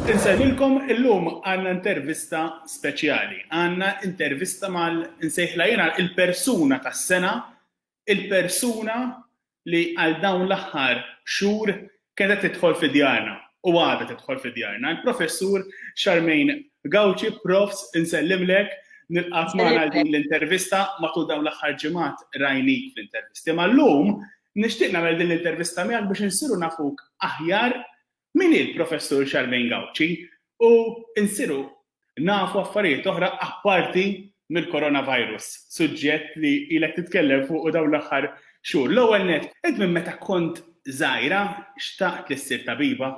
Insejħilkom illum għandna intervista speċjali. Għandna intervista mal insejħla jiena il-persuna tas-sena, il-persuna li għal dawn l-aħħar xhur kienet tidħol fi djarna u għadha tidħol fi djarna. Il-professur Charmaine Gauci, profs, insellimlek, nilqaf magħna din l-intervista matul dawn l-aħħar ġimgħat rajnik fl-intervisti. Ma llum nixtieq nagħmel din l-intervista miegħek biex insiru nafuk aħjar Min hi l-Professur Charmaine Gauci u nsiru nafu affarijiet oħra apparti mill-coronavirus, suġġett li ilek titkellem fuqu dawn l-aħħar xhur. L-ewwel nett, int minn meta kont żgħira xtaqt li ssir tabiba?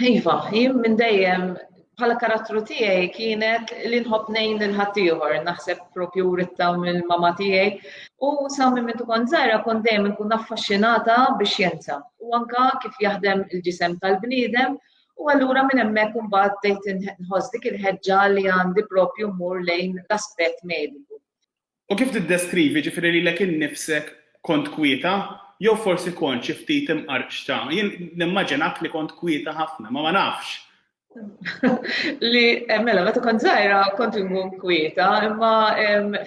Iva, jien minn dejjem bħala karattru tiegħi kienet li nħobb ngħin lil ħaddieħor, naħseb propju rittaw mill-mama tiegħi. U sa minn minn tkun żgħira kont dejjem nkun affaxxinata biex jenza. U anka kif jaħdem il-ġisem tal-bniedem u allura minn hemmhekk imbagħad bdejt inħoss dik il-ħeġġa li għandi propju mmur lejn l-aspett mediku. U kif tiddeskrivi, jiġifieri lilek innifsek, kont kwieta? Jew forsi kont xi ftit imqarqxa? Jien nimmaġinak li kont kwieta ħafna, ma ma nafx. Li, mela, meta kont żgħira kont inkun kwieta, imma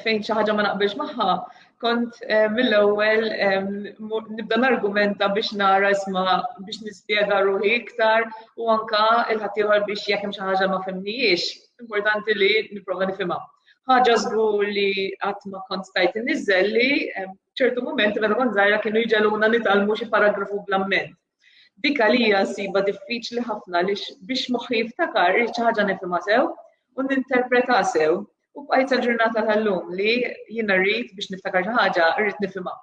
fejn xi ħaġa ma naqbilx magħha, kont eh, mill-ewwel nibda nargumenta biex nara isma biex nispjega ruħi iktar u anka il-ħaddieħor biex jekk hemm xi ħaġa ma fimnijiex, importanti li nipprova nifhimha. Ħaġa żgur li qatt ma kont stajt inniżel li ċertu mumenti meta kont żgħira kienu jġeluna nitalmu xi paragrafu bl-amment. Dik għalija nsiba diffiċli ħafna li biex moħħi jiftakar li xi ħaġa nifhimha sew u ninterpreta sew u bqajt ġurnata tal-lum li jiena rrid biex niftakar xi ħaġa rrid nifhimha.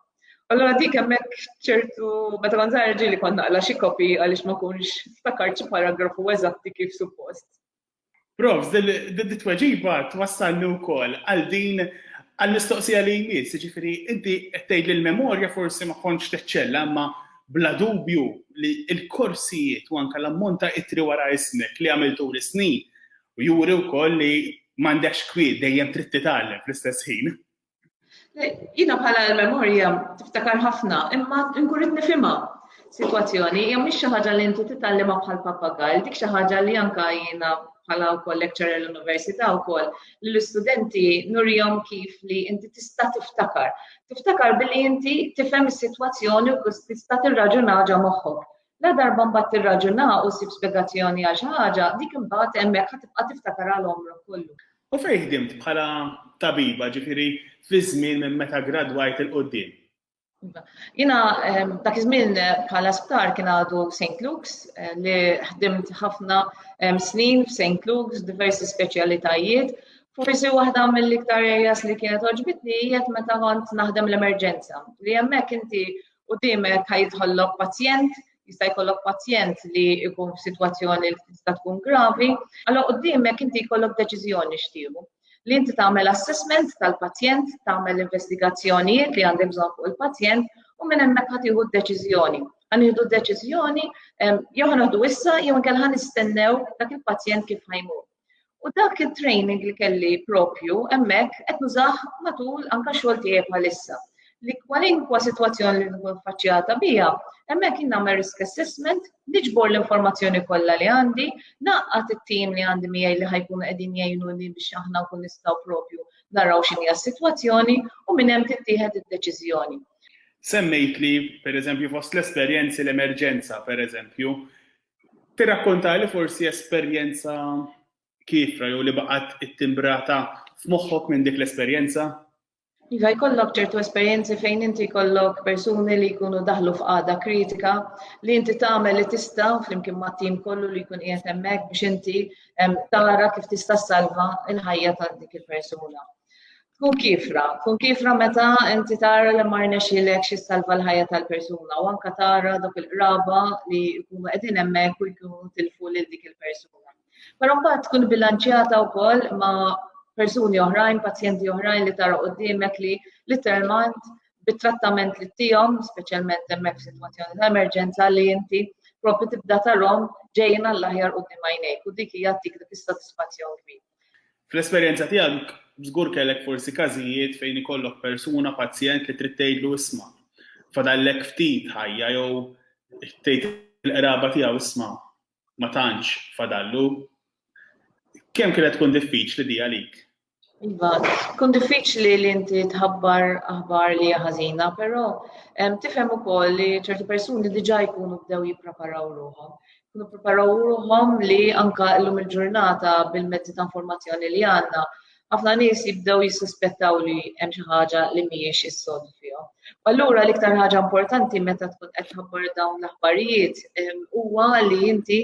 Allora dik hemmhekk ċertu meta kont żgħira ġieli kont naqla xi kopi għaliex ma kunx ftakart xi paragrafu eżatti kif suppost. Profs, dit-tweġiba twassalni wkoll għal din għall-mistoqsija li jmiss, jiġifieri inti qed tgħid li l-memorja forsi ma kontx teċċella imma bla dubju li l-korsijiet u anke l-ammont ta' ittri wara ismek li għamilt tul is-snin juri wkoll li m'għandekx kwiet dejjem trid titgħallem fl-istess ħin. Jina bħala l-memorja tiftakar ħafna, imma nkurit nifima situazzjoni, jom mhix xi ħaġa li inti titgħallimha bħal papagall, dik xi ħaġa li anka jiena bħala wkoll lecturer l-università wkoll li l-istudenti nurjom kif li inti tista' tiftakar. Tiftakar billi inti tifhem is-sitwazzjoni u tista' tirraġuna ġa moħħok. La darba mbagħad tirraġuna u sib spjegazzjoni għal xi ħaġa, dik imbagħad hemmhekk ħatibqa' tiftakar għal omrok kollu. U fejn ħdimt bħala tabiba, ġifieri fiż-żmien minn meta ggradwajt 'il quddiem? Iva. Jiena ehm, dak iż-żmien eh, bħala sptar kien għadu St. Luke's eh, li ħdimt ħafna ehm, snin f'St. Luke's, diversi speċjalitajiet. Forsi waħda mill-iktar areas li kienet oġbitni jiet meta kont naħdem l-emerġenza. Li hemmhekk inti u dimek ħajidħollok pazjent jista' jkollok pazjent li jkun f'sitwazzjoni li tista' tkun gravi, allora qudiemek inti jkollok deċiżjoni xtiebu. Li inti tagħmel assessment tal-pazjent, tagħmel investigazzjonijiet li għandek bżonn fuq il-pazjent u minn hemmhekk ħad tieħu d-deċiżjoni. Għan jieħdu d-deċiżjoni jew ħanaħdu issa jew inkella ħan nistennew dak il-pazjent kif ħajmur. U dak it-training li kelli propju hemmhekk qed nużah matul anke xogħol tiegħi bħalissa li kwalinkwa sitwazzjoni li nkun faċċjata biha, hemmhekk jien nagħmel risk assessment, niġbor l-informazzjoni kollha li għandi, naqqat it-tim li għandi miegħi li ħajkunu qegħdin jgħinuni biex aħna nkun nistgħu propju naraw x'inhi s-sitwazzjoni u minn hemm tittieħed id-deċiżjoni. Semmejt li, per eżempju, fost l-esperjenzi l-emerġenza, per eżempju, Tirrakkontali forsi esperjenza kiefra jew li baqgħet ittimbrata f'moħħok minn dik l-esperjenza? Iva, jkollok ċertu esperjenzi fejn inti jkollok persuni li jkunu daħlu f'qagħda kritika li inti tagħmel li tista' flimkien ma' tim kollu li jkun qiegħed hemmhekk biex inti tara kif tista' salva l-ħajja ta' dik il-persuna. Tkun kiefra, tkun kiefra meta inti tara li ma rnexxilek xi salva l-ħajja tal-persuna u anka tara dok il-qraba li jkunu qegħdin hemmhekk u jkunu tilfu lil dik il-persuna. Però mbagħad tkun bilanċjata wkoll ma' persuni oħrajn, pazjenti oħrajn li tara qudiemek li literalment bit-trattament li tihom, speċjalment hemmhekk f'sitwazzjoni ta' emerġenza li inti propri tibda tarhom ġejjin għall-aħjar qudiem għajnejk u dik hija tik dik is-sodisfazzjon kbir. Fl-esperjenza tiegħek żgur kellek forsi każijiet fejn ikollok persuna, pazjent li trid tgħidlu isma', fadallek ftit ħajja jew tgħid il-qraba tiegħu isma' ma tantx fadallu. Kemm kienet tkun diffiċli di għalik? Iva, kun diffiċli li inti tħabbar aħbar li ħażina, però tifhem ukoll li ċerti persuni diġà jkunu bdew jippreparaw ruħhom. kunu preparaw ruħhom li anka llum il-ġurnata bil-mezzi ta' informazzjoni li għandna, ħafna nies jibdew jissuspettaw li hemm xi ħaġa li mhijiex is-sod fihom. Allura l-iktar ħaġa importanti meta tkun qed tħabbar dawn l-aħbarijiet ehm, huwa li inti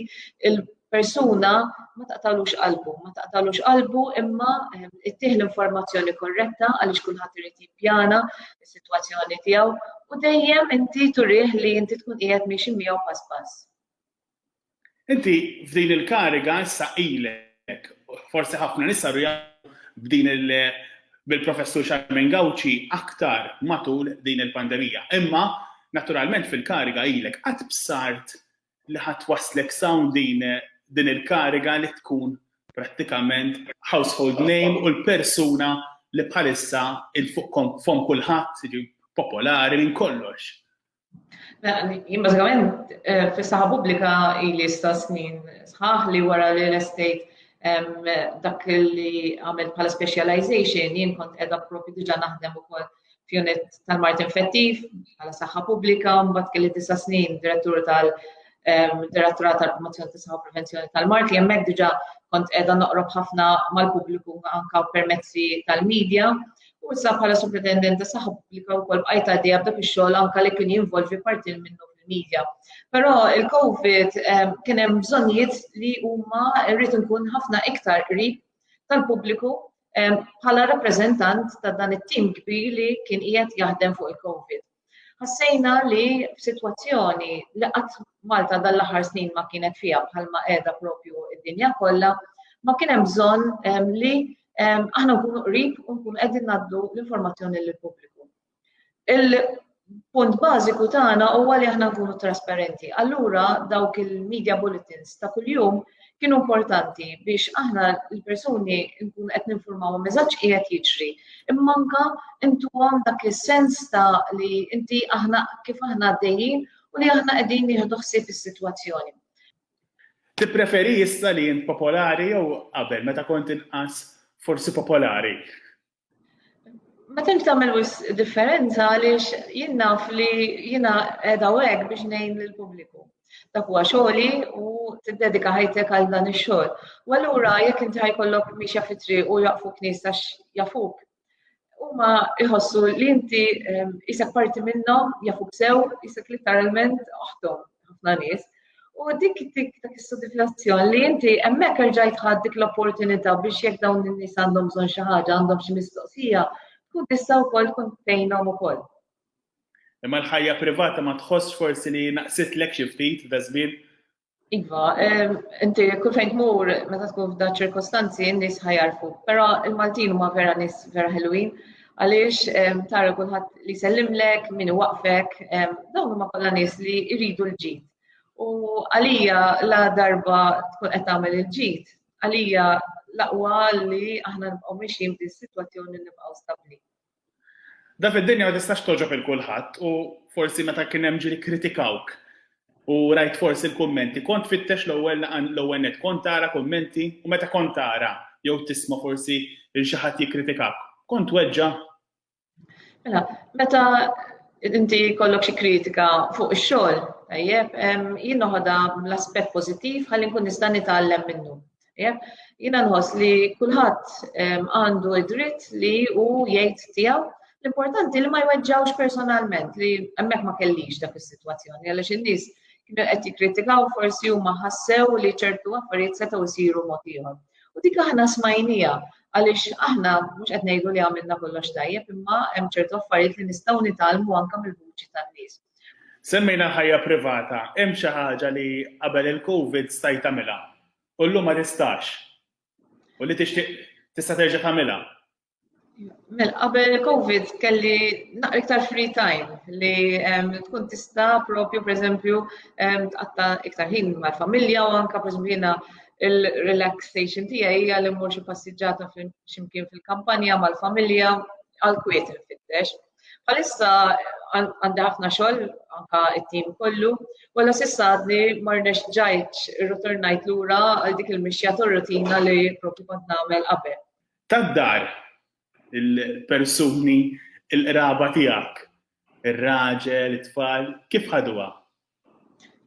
il-persuna ma taqtalux qalbu, ma taqtalux qalbu imma ehm, ittih l-informazzjoni korretta għaliex kulħadd irid jippjana is-sitwazzjoni tiegħu u dejjem inti turih li inti tkun qiegħed miexi miegħu pass pass. Inti f'din il-kariga issa ilek, forsi ħafna nisa rja b'din il- bil-professur Xarmen Gawċi aktar matul din il-pandemija. Imma, naturalment fil-kariga ilek, għad bsart li ħa twasslek s'hawn din din il-kariga li tkun prattikament household name u l-persuna li bħalissa il fuq fomm kulħadd, jiġi popolari minn kollox. Jien bażikament eh, fis-saħħa pubblika ili sta snin sħaħ li wara li l-estate dak li għamil bħala specialization jien kont edha profi diġa naħdem ukoll f'unit tal-mart infettiv, għala saħħa pubblika, mbagħad kelli disa' snin direttur tal-Direttura tal-Promozzjoni tas Saħħa Prevenzjoni tal-Mart li hemmhekk diġà kont qiegħda noqrob ħafna mal-pubbliku anka permezzi tal-medja. U issa bħala superintendent ta' saħħa pubblika wkoll bqajt għaddejja b'dak ix-xogħol anka li kien jinvolvi parti minnu fil-medja. Però il-COVID kien hemm bżonnijiet li huma rrid nkun ħafna iktar qrib tal-pubbliku bħala rappreżentant ta' dan it-tim kbir li kien qiegħed jaħdem fuq il-COVID. Ħassejna li f'sitwazzjoni li qatt Malta dan l-aħħar snin ma kienet fiha bħalma qiegħda propju id-dinja kollha, ma kien hemm bżonn li aħna nkunu qrib u nkunu qegħdin ngħaddu l-informazzjoni lill-pubbliku. Il-punt bażiku tagħna huwa li aħna nkunu trasparenti. Allura dawk il-media bulletins ta' kuljum kienu importanti biex aħna l-persuni nkunu qed ninformaw meżaġġ qiegħed jiġri. Imma anka intuhom dak is-sens ta' li inti aħna kif aħna għaddejjin u li aħna qegħdin nieħdu ħsieb is-sitwazzjoni. Tippreferi issa li int popolari jew qabel meta kont inqas forsi popolari? Ma tantx tagħmel wis differenza għaliex jien naf li jiena qiegħda hekk biex ngħin lill-pubbliku. Dak huwa xogħli u tiddedika ħajtek għal dan ix-xogħol. U allura jekk inti ħajkollok mixja fitri u jaqfu knies għax jafuk, huma jħossu li inti ehm, isek parti minnhom, jafuk sew, isek literalment oħtom. ħafna nies. U dik dik dak is-sodiflazzjon li inti hemmhekk rġajt ħadd dik l-opportunità biex jekk dawn in-nies għandhom bżonn xi ħaġa, għandhom xi mistoqsija, tkun tista' wkoll tkun tgħinhom ukoll. Imma l-ħajja privata ma tħoss forsi li naqsitlek xi ftit f'da żmien. Iva, inti kull fejn tmur meta tkun f'da ċirkostanzi n-nies ħajarfu, però il-Maltin huma vera nies vera ħelwin. għaliex tara kulħadd li sellimlek, min waqfek, dawn huma kollha nies li jridu l-ġid. U għalija la darba tkun qed tagħmel il-ġid, għalija laqwa li aħna nibqgħu mixjin din sitwazzjoni nibqgħu stabbli. Da fid-dinja ma tistax toġob il-kulħadd u forsi meta kien hemm ġiri kritikawk U rajt forsi l-kummenti. Kont tfittex l-ewwel l-ewwel net kont tara kummenti u meta kont tara jew tisma' forsi lil xi ħadd jikkritikak, kont tweġġa'? Mela, meta inti jkollok xi kritika fuq ix-xogħol, tajjeb, jien noħodha l-aspett pożittiv ħalli nkun nista' nitgħallem minnu. Jiena nħoss li kulħadd għandu id-dritt li hu jgħid tiegħu l-importanti li ma jweġġawx personalment li hemmhekk ma kellix dak is-sitwazzjoni għaliex in-nies kienu qed jikkritikaw forsi huma ħassew li ċertu affarijiet setgħu jsiru mod ieħor. U dik aħna smajnija għaliex aħna mhux qed ngħidu li għamilna kollox tajjeb imma hemm ċertu affarijiet li nistgħu nitgħallmu anke mill-vuċi tan-nies. Semmejna ħajja privata, hemm xi ħaġa li qabel il-COVID stajt tagħmilha? u llum ma tistax u li tixtieq tista' terġa' tagħmilha. Mel, qabel il-Covid kelli naqra iktar free time li tkun tista propju per eżempju tqatta iktar ħin mal-familja u anka per eżempju jiena il-relaxation tiegħi hija li mmur xi passiġġata x'imkien fil-kampanja mal-familja għal kwiet infittex. Bħalissa għandi ħafna xogħol anka it-tim kollu, wala sissa għadni marnex ġajċ rroturnajt lura għal dik il-mixja tor-rutina li propju kont nagħmel qabel. Tad-dar il-persuni il-qraba tiegħek, ir-raġel, it-tfal, kif ħaduha?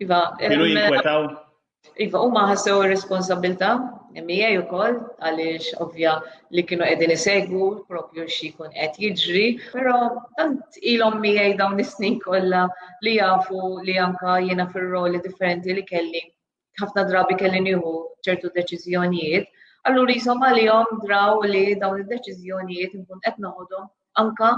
Iva, kienu jinkwetaw? Iva, huma ħassew ir-responsabilta' MEA ukoll għaliex ovvja li kienu qegħdin isegwu propju xi jkun qed jiġri, però tant ilhom miegħi dawn is-snin kollha li jafu li anka jiena fir-roli differenti li kelli ħafna drabi kelli nieħu ċertu deċiżjonijiet, allura jisom għalihom draw li dawn id-deċiżjonijiet nkun qed noħodhom anka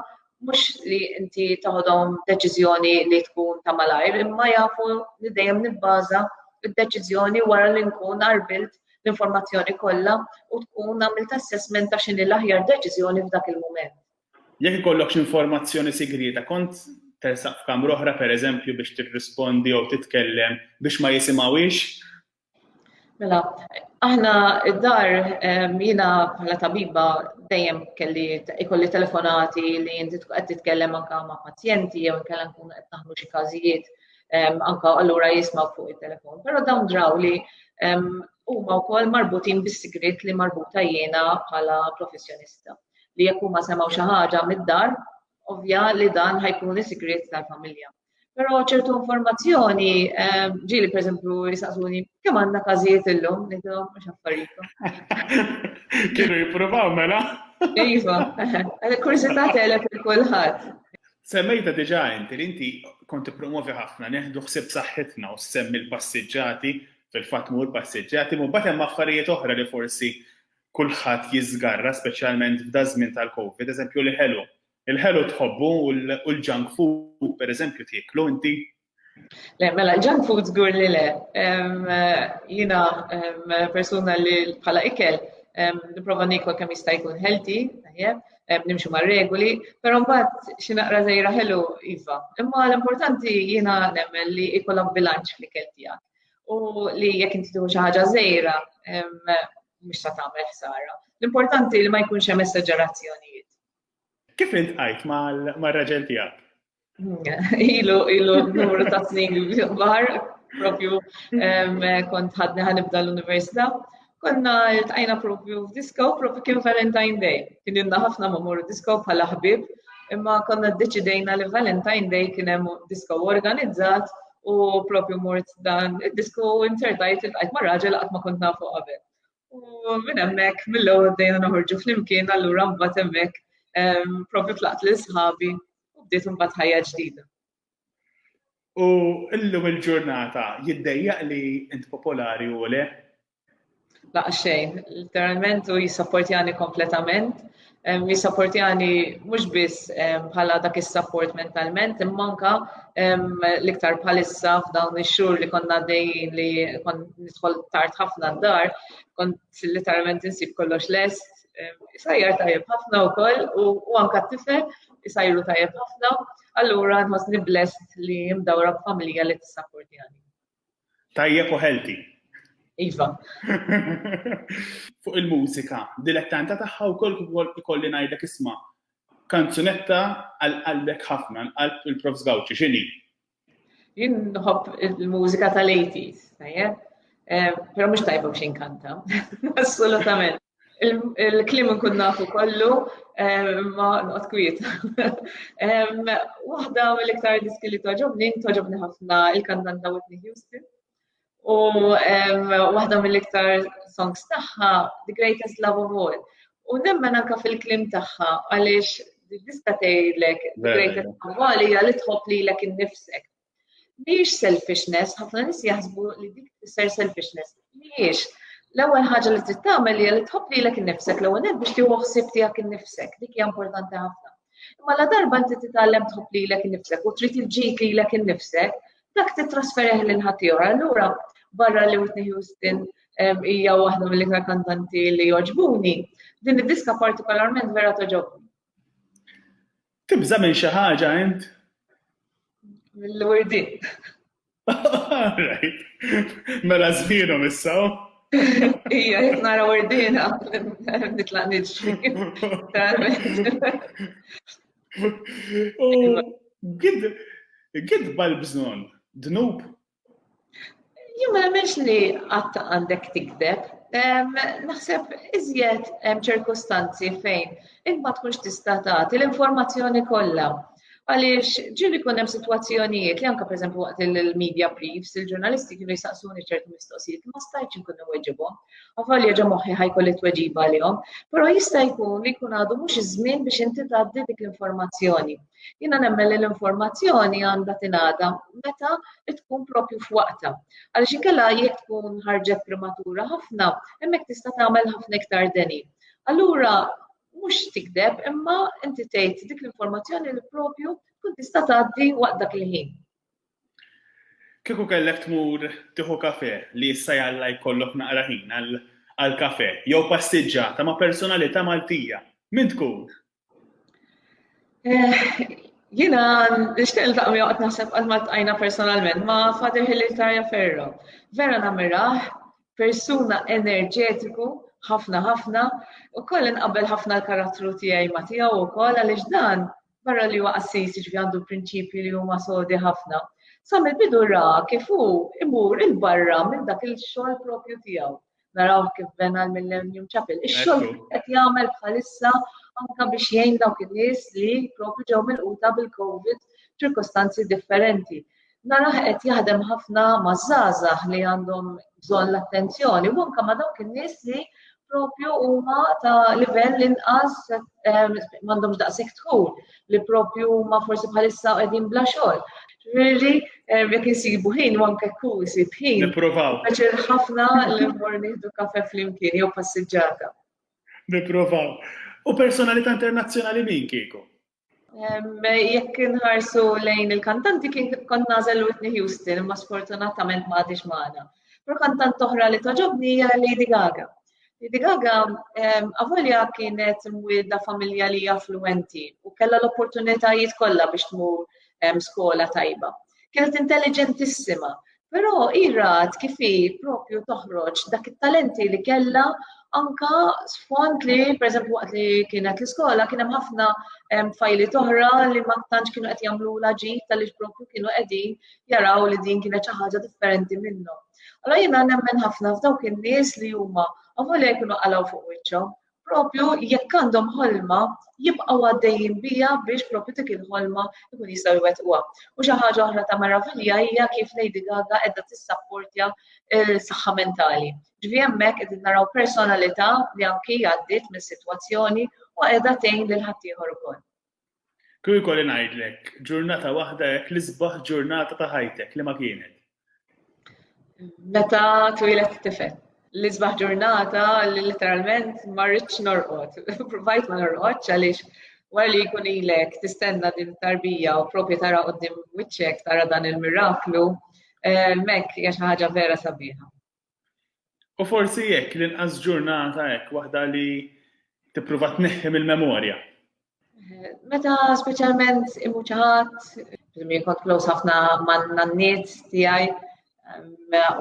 mhux li inti taħodhom deċiżjoni li tkun ta' malajr, imma jafu li dejjem nibbaża id-deċiżjoni wara li nkun arbilt l-informazzjoni kollha u tkun għamilt assessment ta' xini l-aħjar deċiżjoni f'dak il-mument. Jekk ikollokx informazzjoni sigrieta, kont tersaq f'kamra oħra, pereżempju, biex tirrispondi jew titkellem biex ma jisimgħuhiex? Mela, aħna d-dar jiena bħala tabiba dejjem kelli ikolli telefonati li inti qed titkellem anke ma' pazjenti jew inkella nkun qed naħlu xi każijiet anke allura jisma' fuq it-telefon. Però dawn draw li huma wkoll marbutin bis-sigriet li marbuta jiena bħala professjonista. li jekk huma semgħu xi ħaġa mid-dar, ovvja li dan ħajkun is-sigriet tal-familja. Però ċertu informazzjoni ehm, ġieli pereżempju jisaqsuni kemm għandna każijiet illum nidhom mhux affarijiet. Kienu jippruvaw mela? Iva, kursità telef il kulħadd. Semmejta diġa inti li inti konti promovi ħafna neħdu ħsib saħħitna u semmi l-passiġġati fil-fatt mur passiġġati, mu batem affarijiet oħra li forsi kulħadd jiżgarra speċjalment f'daż-żmien tal-Covid, eżempju l-ħelu. Il-ħelu tħobbu u l-junk food pereżempju tieklu inti? Le, mela, junk food żgur li le. Jiena persuna li bħala ikel nipprova nikol kemm jista' jkun healthy, tajjeb, nimxu ma' regoli, però mbagħad xi naqra żejra ħelu iva. Imma l-importanti jiena nemmen li ikollok bilanċ fl-ikel tiegħek. u li jekk inti tieħu xi ħaġa żejra mhux sa tagħmel ħsara. L-importanti li ma jkunx hemm esagerazzjonijiet. Kif int qajt mar-raġel tiegħek? Ilu, ilu numru ta' snin bar, propju kont ħadni ħanibda l-università Konna iltqajna propju f'disko, propju kien Valentine Day. Kien ilna ħafna ma morru disko bħala ħbib, imma konna ddeċidejna li Valentine Day kien hemm disko organizzat u propju mort dan id-disko insertajt iltqajt ma' raġel qatt ma kont nafu qabel. U minn hemmhekk mill-ewwel bdejna noħorġu flimkien allura mbagħad hemmhekk ehm, propju tlaqt lil sħabi u bdiet imbagħad ħajja ġdida. U illum il-ġurnata jiddejjaq li int popolari u le? La xejn, literalment u jissapportjani kompletament. Jissapportjani mhux biss bħala dak is-sapport mentalment, imma anka l-iktar bħalissa f'dawn ix-xhur li konna dejjin li kon nidħol tard ħafna d-dar, kont literalment insib kollox lest, isajjar tajjeb ħafna wkoll u anka t-tifel isajru tajjeb ħafna Allura nħossni blessed li mdawra b'familja li tissappurtjani. Tajjeb u healthy. Iva. Fuq il-mużika, dilettanta tagħha wkoll ikolli ngħidlek isma' kanzunetta għal qalbek ħafna, qalb il-Prof Gawċi, x'inhi? Jien nħobb il-mużika tal-80s, tajjeb? Eh, però mhux tajba biex inkanta. Assolutament. Il-klim nkun nafu kollu, ma nqot kwiet. Waħda mill-iktar diski li toġobni, toġobni ħafna il-kantanta Whitney Houston. U waħda mill-iktar songs tagħha, The Greatest Love of All. U nemmen anka fil-klim tagħha għaliex diska tgħidlek The Greatest Love of All hija li tħobb lilek innifsek. Mhijiex selfishness, ħafna nies jaħsbu li dik tfisser selfishness. Mhijiex. L-ewwel ħaġa li trid tagħmel hija li tħobb lilek innifsek l-ewwel nett biex tieħu ħsieb tiegħek innifsek. Dik hija importanti ħafna. Imma la darba inti titgħallem tħobb lilek innifsek u trid il-ġid lilek innifsek, dak titrasferih lil ħaddieħor. Allura barra li Whitney Houston hija waħda mill-iktar kantanti li joġbuni. Din id-diska partikolarment vera toġobni. Tibża minn xi ħaġa int? L-wirdi. Mela żmienhom issa. Ija, jek nara wordina, nitlaq nidġi. Gidba l-bżon, dnub Jien ma nemmenx li qatt għandek tikdeb. Naħseb iżjed hemm ċirkustanzi fejn int ma tkunx tista' tagħti l-informazzjoni kollha. Għaliex ġieli kun hemm sitwazzjonijiet li anke pereżempju waqt il-media briefs, il-ġurnalisti kienu jisaqsuni ċertu mistoqsijiet ma stajtx inkun weġibhom. Avalja ġa moħħi ħajkolli tweġiba għalihom, però jista' jkun li jkun għadu mhux iż-żmien biex inti tgħaddi dik l-informazzjoni. Jiena nemmen li l-informazzjoni għandha tingħada meta tkun propju f'waqta. Għaliex inkella jekk tkun ħarġet prematura ħafna, hemmhekk tista' tagħmel ħafna iktar deni. Allura mhux tikdeb imma inti tgħid dik l-informazzjoni li propju tkun tista' tgħaddi waqt dak il-ħin. Kieku kellek tmur tieħu kafe li issa jalla jkollok naqra ħin għal kafe jew passiġġata ma' personalità Maltija, min tkun? Eh, jina, nishtiq il-taqqa mi għat naħseb għal maltajna personalment ma Father Hilitaria Ferro. Vera namiraħ, persuna enerġetiku, ħafna ħafna, u koll inqabel ħafna l-karattru tijaj ma tijaw u koll għalix dan barra li huwa assis ġvi għandu prinċipji li huma sodi ħafna. Sam il-bidu ra kif hu imur il-barra minn dak il-xogħol propju tiegħu. naraw kif ben għal Millennium Chapel. Ix-xogħol qed jagħmel bħalissa anka biex jgħin dawk in-nies li propju ġew mill-quta bil-COVID ċirkostanzi differenti. Naraħ qed jaħdem ħafna ma' żgħażagħ li għandhom bżonn l-attenzjoni u anka ma' dawk in-nies li propju huma ta' livell inqas m'għandhomx daqshekk tħul. li propju huma forsi bħalissa qegħdin bla xogħol. Ġifieri eh, jekk insibu ħin u anke kull isib ħin. Nipprovaw. Għaxir ħafna li mmur nieħdu kafe flimkien jew passiġġata. Nipprovaw. U personalità internazzjonali min kieku? Jekk inħarsu lejn il-kantanti kien kont nażel Whitney Houston, imma sfortunatament ma għadix magħna. Però kantant oħra li toġobni hija Lady Gaga. Lady Gaga avolja kienet mwielda familja li affluenti u kellha l-opportunitajiet kollha biex tmur skola tajba. Kienet intelligentissima, però irat kif hi propju toħroġ dak it-talenti li kellha anka sfond li, pereżempju waqt li kienet l-iskola, kien hemm ħafna fajli toħra li ma tantx kienu qed jagħmlu l-ġid tal propju kienu qegħdin jaraw li din kienet xi ħaġa differenti minnhom. Allora jiena nemmen ħafna f'dawk in-nies li huma għavol jkunu qalgħu fuq wiċċhom, propju jekk għandhom ħolma jibqgħu għaddejjin bija biex propju dik il-ħolma jkun jistgħu jwettquha. U xi ħaġa oħra ta' meravilja hija kif Lady Gaga qiegħda tissapportja l-saħħa mentali. Ġvi hemmhekk qed naraw personalità li anki għaddiet mis-sitwazzjoni u qiegħda tgħin lil ħaddieħor ukoll. Kieku jkolli ngħidlek ġurnata waħda hekk l-isbaħ ġurnata ta' ħajtek li ma kienet. Meta twilet tifel. L-isbaħ ġurnata li literalment ma rridx norqod. Provajt ma norqodx għaliex wara li jkun ilek tistenna din tarbija u propju tara qoddim wiċċek tara dan il-miraklu, eh, mek hija xi ħaġa vera sabiħa. U forsi jekk l-inqas ġurnata hekk waħda li tipprova tneħħi mill-memorja. Meta speċjalment imuċ ħadd, min kont close ħafna man-nanniet tiegħi,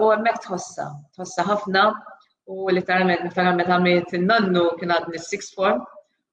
u hemmhekk tħossa, tħossa ħafna u literalment niftakar meta għamilt in-nannu kien għadni six form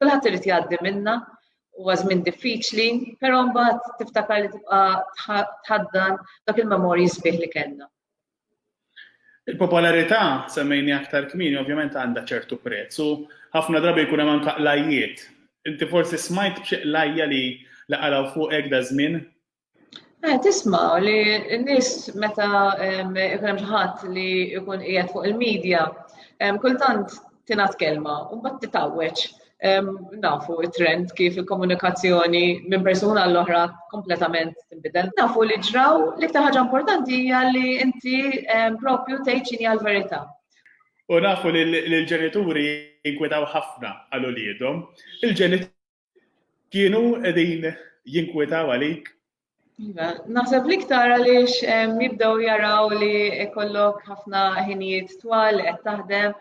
Kulħadd irid jgħaddi minna, huwa żmien diffiċli, però mbagħad tiftakar li tibqa' tħaddan dak il-memorji sbieħ li kellna. Il-popolarità semmejni aktar kmini ovvjament għandha ċertu prezz u ħafna drabi jkun hemm anke qlajjiet. Inti forsi smajt b'xi qlajja li laqalaw fuqek da żmien Eh, tisma li n-nis meta ikun hemm ħadd li jkun qiegħed fuq il-medja, kultant tingħad kelma u mbagħad titawweġ nafu it-trend kif il-komunikazzjoni minn persuna l-oħra kompletament tinbidel. Nafu li ġraw li iktar ħaġa importanti hija li inti propju tgħid x'inhi l-verità. U nafu li l-ġenituri jinkwetaw ħafna għal uliedhom. Il-ġenituri Kienu qegħdin jinkwetaw għalik? Iva, naħseb li ktar għaliex jibdew jaraw li kollok ħafna ħinijiet twal li qed taħdem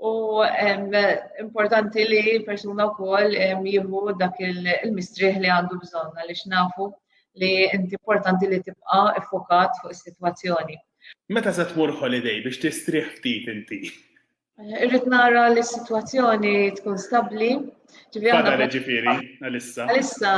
u importanti li persuna wkoll jieħu dak il-mistrieħ li għandu bżonn għaliex nafu li inti importanti li tibqa' iffokat fuq is-sitwazzjoni. Meta se tmur holiday biex tistrieħ ftit inti? Irrid nara li s-sitwazzjoni tkun stabbli. Fadal ġifieri, għalissa. Għalissa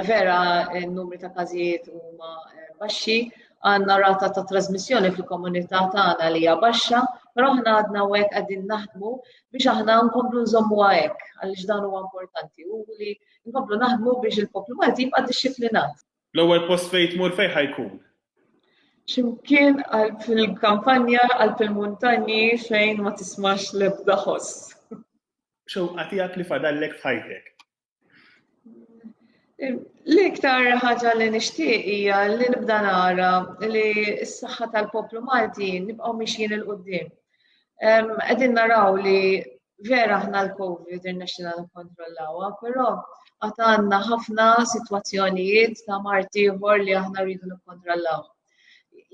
vera n-numri ta' każijiet huma baxxi, għandna rata ta' trasmissjoni fil-komunità tagħna li hija baxxa, però aħna għadna hekk qegħdin naħdmu biex aħna nkomplu nżommu hekk għaliex dan huwa importanti u li nkomplu naħdmu biex il-poplu Malti jibqa' dixxiplinat. L-ewwel post fejn tmur fejn ħa jkun? X'imkien għal fil-kampanja għal fil-muntanji fejn ma tismax l-ebda ħoss. Xewqa tiegħek li fadallek f'ħajtek? L-iktar ħaġa li nixtieq hija li nibda nara li s-saħħa tal-poplu Malti nibqgħu mixjin il qudiem Qegħdin naraw li Vera aħna l-COVID irnexxina nikkontrollawha, però għad għandna ħafna sitwazzjonijiet ta' mart ieħor li aħna rridu nikkontrollaw.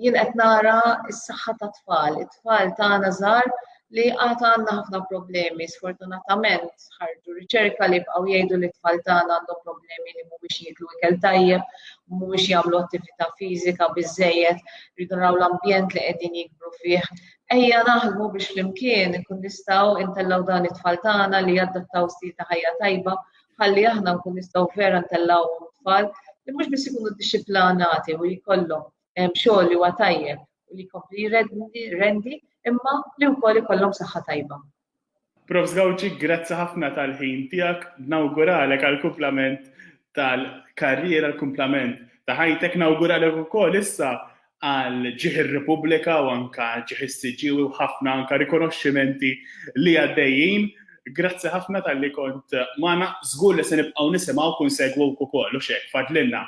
Jien qed nara s-saħħa ta' tfal, it-tfal tagħna żgħar li għad għandna ħafna problemi, sfortunatament ħarġu riċerka li bqgħu jgħidu li t-tfal tagħna għandhom problemi li mhumiex jieklu ikel tajjeb, mhumiex jagħmlu attività fiżika biżejjed, rridu naraw l-ambjent li qegħdin jikbru fih, Ejja naħdmu biex flimkien inkun nistgħu intellgħu dan it-tfal tagħna li jaddattaw stil ta' ħajja tajba ħalli aħna nkun nistgħu vera ntellgħuhom tfal li mhux biss ikunu dixxiplanati u jkollhom ehm, xogħol li huwa tajjeb u li jkompli rendi imma li wkoll ikollhom saħħa tajba. Profs Gauci grazzi ħafna tal-ħin tiegħek, nawguralek għall-kumplament tal-karriera, l-kumplament ta' ħajtek, nawguralek ukoll issa għal ġieħ ir-Repubblika u anke ġieħ is-siġiewi u ħafna anke rikonoxximenti li għaddejjin. Grazzi ħafna talli kont magħna, żgur li se nibqgħu nisimgħuk u nsegwuk ukoll, hux hekk, fadlilna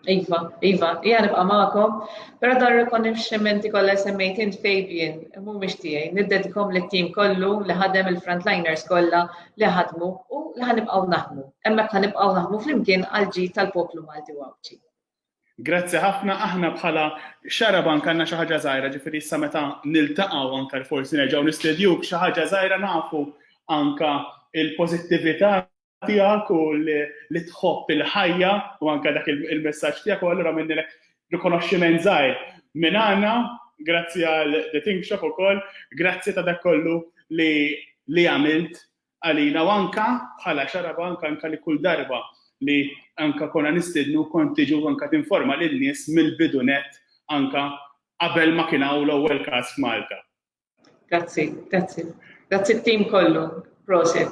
Iva, Iva, hija nibqa' magħkom, però dan rikonixximenti kollha semmejt int Fabian, mhumiex tiegħi, niddedikom lit-tim kollu li ħadem il-frontliners kollha li ħadmu u li ħanibqgħu naħdmu. Hemmhekk ħanibqgħu naħdmu flimkien għal ġid tal-poplu Malti u Għawdxi. Grazzi ħafna, aħna bħala xara bank għandna xi ħaġa żgħira, ġifieri issa meta niltaqgħu anke forsi nerġgħu nistedjuk xi ħaġa żgħira nafu anke il-pożittività tiegħek u li tħobb il-ħajja u anke dak il-messaġġ tiegħek u allura minnilek rikonoxximent żgħir minn għandna, grazzi għal The Think Shop ukoll, grazzi ta' dak kollu li għamilt għalina u anke bħala xarab anke anke li kull darba li anke konna nistidnu kont tiġu anke tinforma lin-nies mill-bidu net anke qabel ma kien hawn l-ewwel każ f'Malta. Grazzi, grazzi. Grazzi t-tim kollu. Prosit.